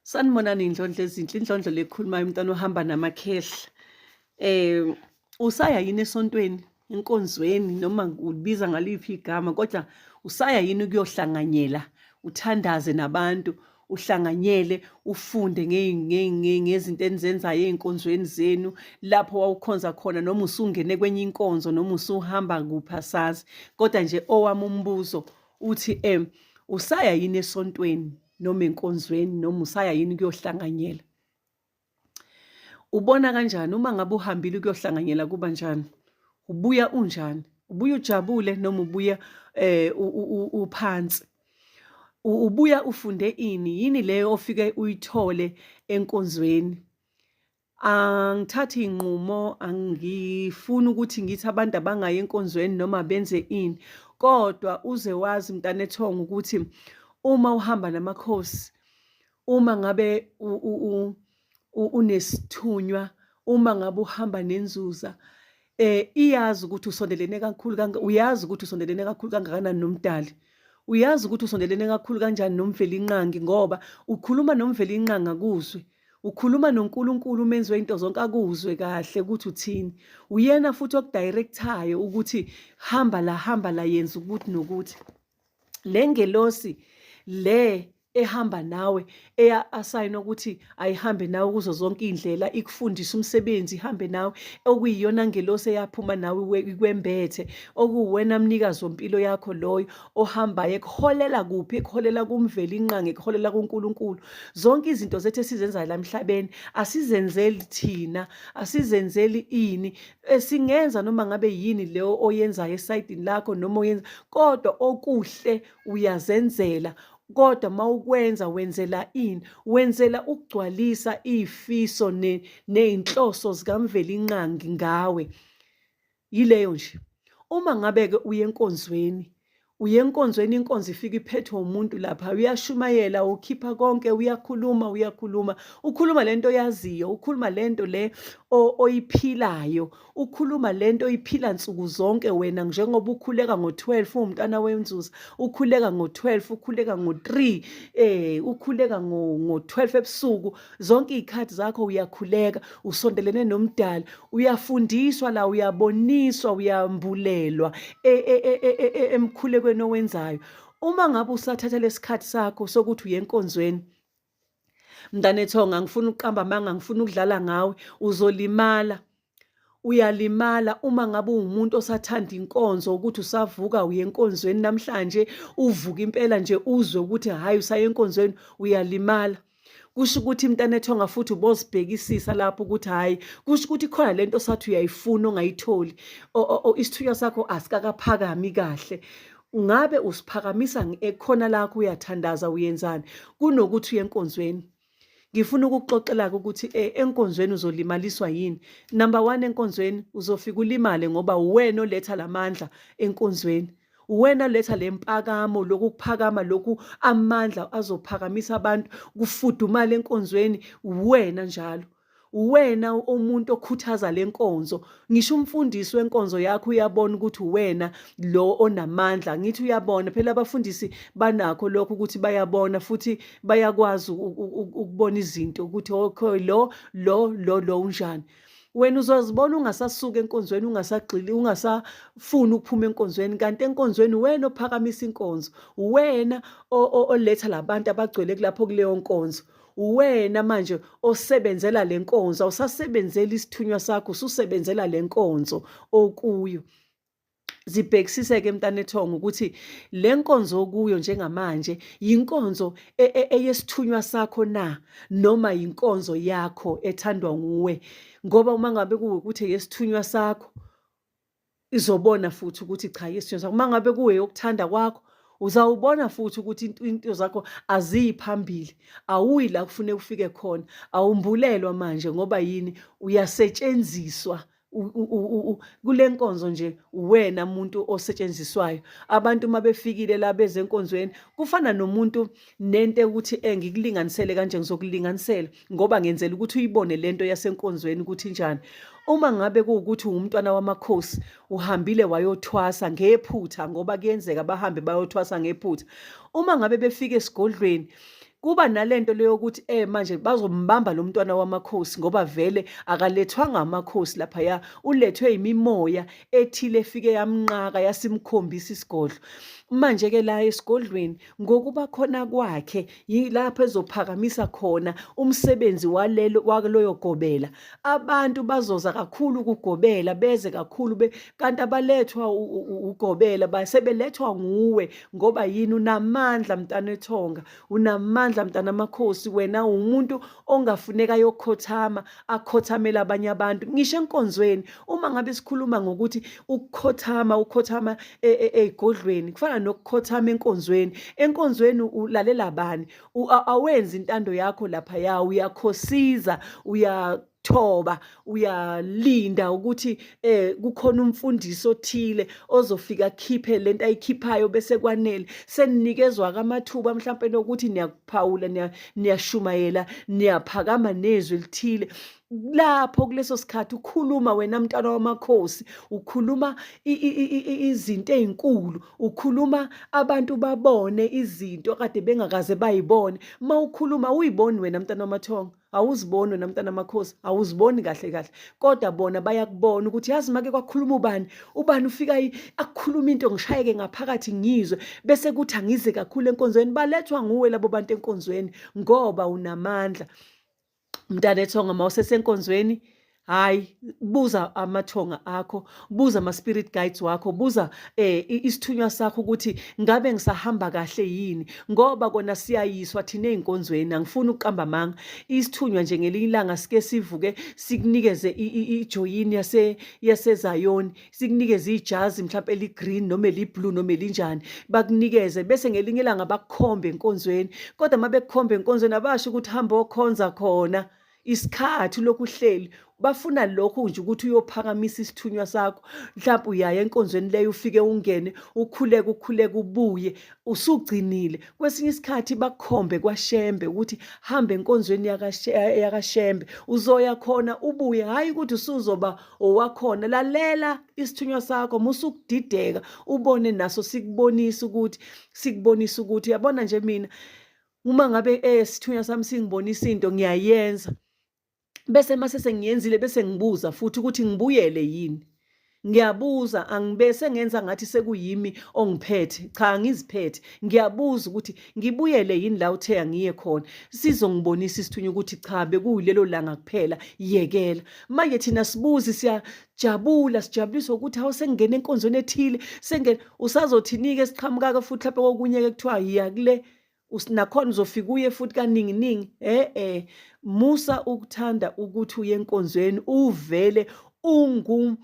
sanibonani indlondlo ezinhle indlondlo lekhulumayo umntwana ohamba namakhehla eh usaya yini esontweni enkonzweni noma ubiza ngaliphi igama kodwa usaya yini ukuyohlanganyela uthandaze nabantu uhlanganyele ufunde ngezinto enizenzayo ey'nkonzweni zenu lapho wawukhonza khona noma usungene kwenye inkonzo noma usuhamba kuphi asazi kodwa nje owami umbuzo uthi um usaya yini esontweni noma enkonzweni noma usaya yini kuyohlanganyela ubona kanjani uma ngabe uhambile ukuyohlanganyela kuba njani ubuya unjani ubuya ujabule noma ubuya eh uphansi ubuya ufunde ini yini leyo ofike uyithole enkonzweni angithathi inqumo angifuni ukuthi ngithi abantu abangayi enkonzweni noma benze ini kodwa uze wazi mntana ethonga ukuthi uma uhamba namakhosi uma ngabe unesithunywa uma ngabe uhamba nenzuza eh iyazi ukuthi usondelene kakhulu kanga uyazi ukuthi usondelene kakhulu kangakanani nomdali uyazi ukuthi usondelene kakhulu kanjani nomvelinqangi ngoba ukhuluma nomvelinqangi akuzwe ukhuluma noNkulunkulu umenzi wento zonke akuzwe kahle ukuthi uthini uyena futhi okudirectayo ukuthi hamba la hamba la yenza ukuthi nokuthi le ngelosi le ehamba nawe eya asayina ukuthi ayihambe nawe kuzo zonke iy'ndlela ikufundise umsebenzi ihambe nawe okuyiyona ngelosi eyaphuma nawe ikwembethe okuwuwena mnikazi wompilo yakho loyo ohambayo ekuholela kuphi ekuholela kumveli inqangi ekuholela kuNkulunkulu zonke izinto zethu esizenzayo la emhlabeni asizenzeli thina asizenzeli ini esingenza noma ngabe yini leyo oyenzayo esayidini lakho noma oyenza kodwa okuhle uyazenzela kodwa mawukwenza wenzela ini wenzela ukugcwalisa izifiso nezinhloso zikaMvelinqangi ngawe yileyo nje uma ngabe-ke uye enkonzweni uye enkonzweni inkonzo ifika iphethwe umuntu lapha uyashumayela ukhipha konke uyakhuluma uyakhuluma ukhuluma lento oyaziyo ukhuluma lento le oyiphilayo ukhuluma lento oyiphila nsuku zonke wena njengoba ukhuleka ngo12 umntana wenzuza ukhuleka ngo12 ukhuleka ngo3 eh ukhuleka ngo12 ebusuku zonke iy'khathi zakho uyakhuleka usondelene nomdali uyafundiswa la uyaboniswa uyambulelwa e, e, e, emkhulekweni owenzayo uma ngabe usathatha lesikhathi sakho sokuthi uye enkonzweni mntanethonga ngifuna ukuqamba amanga ngifuna ukudlala ngawe uzolimala uyalimala uma ngabe uwumuntu osathanda inkonzo ukuthi usavuka uye enkonzweni namhlanje uvuka impela nje uzwe ukuthi hhayi usaye enkonzweni uyalimala kusho ukuthi mntanethonga futhi ubozibhekisisa lapho ukuthi hhayi kusho ukuthi khona le nto sathi uyayifuna ongayitholi isithunywa sakho asikakaphakami kahle ngabe usiphakamisa khona lakho uyathandaza uyenzani kunokuthi uye enkonzweni ngifuna ukukuxoxela-ke ukuthi um enkonzweni uzolimaliswa yini number one enkonzweni uzofika ulimale ngoba uwena oletha la mandla enkonzweni uwena letha le mpakamo lokuphakama lokhu amandla azophakamisa abantu kufudumala enkonzweni uwena njalo uwena umuntu okhuthaza le nkonzo ngisho umfundisi wenkonzo yakho uyabona ukuthi uwena lo onamandla ngithi uyabona phela abafundisi banakho lokho ukuthi bayabona futhi bayakwazi ukubona izinto ukuthi okay lo lo lo lo unjani wena uzozibona ungasasuka enkonzweni ungasagxili ungasafuni ukuphuma enkonzweni kanti enkonzweni wena ophakamisa inkonzo wena oletha labantu abagcwele kulapho kuleyo nkonzo uwena manje osebenzela le nkonzo awusasebenzeli isithunywa sakho ususebenzela le nkonzo okuyo zibhekisise-ke mntanethongo ukuthi le nkonzo okuyo njengamanje yinkonzo e, e, eyesithunywa sakho na noma yinkonzo yakho ethandwa nguwe ngoba uma ngabe kuwukuthi yesithunywa sakho izobona futhi ukuthi cha yisithunywa sakho uma ngabe kuwe yokuthanda kwakho uzawubona futhi ukuthi into zakho aziyi phambili awuyi la kufune ufike khona awumbulelwa manje ngoba yini uyasetshenziswa kule nkonzo nje uwena muntu osetshenziswayo abantu uma befikile la bezenkonzweni kufana nomuntu nento ukuthi engikulinganisele kanje ngizokulinganisela ngoba ngenzela ukuthi uyibone lento yasenkonzweni ukuthi njani uma ngabe kuwukuthi ungumntwana wamakhosi uhambile wayothwasa ngephutha ngoba kuyenzeka bahambe bayothwasa ngephutha uma ngabe befika esigodlweni kuba nalento leyo ukuthi eh manje bazombamba lo mntwana wamakhosi ngoba vele akalethwanga amakhosi lapha ya ulethwe imimoya ethile efike yamnqaka yasimkhombisa isigodlo manje ke la esigodlweni ngokuba khona kwakhe yilapho ezophakamisa khona umsebenzi walelo waloyo gobela abantu bazoza kakhulu ukugobela beze kakhulu be kanti abalethwa ugobela basebelethwa nguwe ngoba yini unamandla mntana ethonga unamandla mntana amakhosi wena umuntu ongafuneka yokhothama akhothamela abanye abantu ngisho enkonzweni uma ngabe sikhuluma ngokuthi ukukhothama ukhothama e, e, ezigodlweni kufana nokukhothama enkonzweni enkonzweni ulalela bani awenzi intando yakho lapha ya uyakhosiza uya thoba uyalinda ukuthi eh kukhona umfundisi othile ozofika khiphe lento ayikhiphayo bese kwanele seninikezwa kamathuba mhlawumbe nokuthi niyakuphawula niyashumayela niyaphakama nezwi elithile lapho kuleso sikhathi ukhuluma wena mntana wamakhosi ukhuluma izinto ezinkulu ukhuluma abantu babone izinto kade bengakaze bayibone mawukhuluma uyiboni wena mntana wamathongo awuziboni wena mntana makhosi awuziboni kahle kahle kodwa bona bayakubona ukuthi yazi make kwakhuluma ubani ubani ufika akukhuluma into ngishayeke ngaphakathi ngizwe bese kuthi angize kakhulu enkonzweni balethwa nguwe labo bantu enkonzweni ngoba unamandla mntanethonga uma usesenkonzweni hayi buza amathonga akho buza ama-spirit guides wakho buza eh isithunywa sakho ukuthi ngabe ngisahamba kahle yini ngoba kona siyayiswa thina ey'nkonzweni angifuni ukuqamba amanga isithunywa nje ngelinye ilanga sike sivuke sikunikeze ijoyini yase yasezayoni sikunikeze ijazi mhlawumpe eli-green noma eli-blue noma elinjani bakunikeze bese ngelinye ilanga bakukhombe enkonzweni kodwa uma bekukhombe enkonzweni abasho ukuthi hamba okhonza khona isikhathi lokhu uhleli bafuna lokho nje ukuthi uyophakamisa isithunywa sakho mhlawumbe uyaye enkonzweni leyo ufike ungene ukhuleke ukhuleke ubuye usugcinile kwesinye isikhathi bakhombe kwashembe ukuthi hambe enkonzweni yakashembe uzoya khona ubuye hhayi ukuthi usuzoba owakhona lalela isithunywa sakho musukudideka ubone naso sikubonisa ukuthi sikubonisa ukuthi yabona nje mina uma ngabe eh sithunywa sami singibonisa into ngiyayenza bese mase sengiyenzile bese ngibuza futhi ukuthi ngibuyele yini ngiyabuza angibese ngenza ngathi sekuyimi ongiphethe cha ngiziphethe ngiyabuza ukuthi ngibuyele yini la uthe angiye khona sizongibonisa isithunywa ukuthi cha bekuyilelo langa kuphela yekela manje thina sibuzi siya jabula sijabuliswa ukuthi hawu sengingena enkonzweni ethile sengena usazothinike siqhamukaka futhi lapho kokunye-ke kuthiwa yiya kule nakhona uzofika uye futhi kaningi ningi eh eh musa ukuthanda ukuthi uye enkonzweni uvele ungu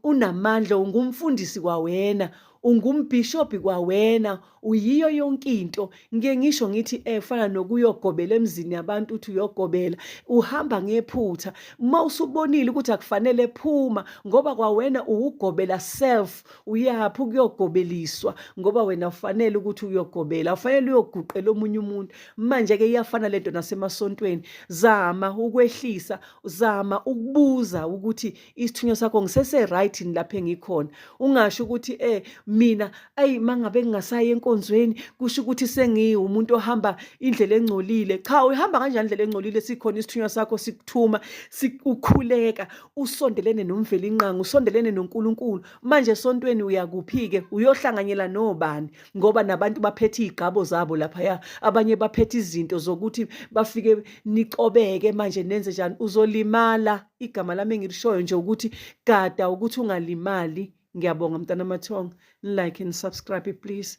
unamandla ungumfundisi kwawena ungumbhishobhi kwawena uyiyo yonke into ngike ngisho ngithi efana eh, nokuyogobela emzini yabantu uthi uyogobela uhamba ngephutha uma usubonile ukuthi akufanele phuma ngoba kwawena uwugobela self uyaphi ukuyogobeliswa ngoba wena ufanele ukuthi uyogobela ufanele uyoguqela omunye umuntu manje-ke iyafana lento nasemasontweni zama ukwehlisa zama ukubuza ukuthi isithunywa sakho ngisese-right yini lapho engikhona ungasho ukuthi eh mina ayi mangabe ngingasayi enkonzweni kusho ukuthi sengiwumuntu ohamba indlela engcolile cha uhamba kanjani indlela engcolile sikhona isithunywa sakho sikuthuma sikukhuleka usondelene nomvelinqangi usondelene noNkulunkulu manje esontweni uyakuphi-ke uyohlanganyela nobani ngoba nabantu baphethe iy'gqabo zabo laphaya abanye baphethe izinto zokuthi bafike nicobeke manje nenze njani uzolimala igama lami engilishoyo nje ukuthi gada ukuthi ungalimali ngiyabonga mntana mathonga nilike nisubscribe please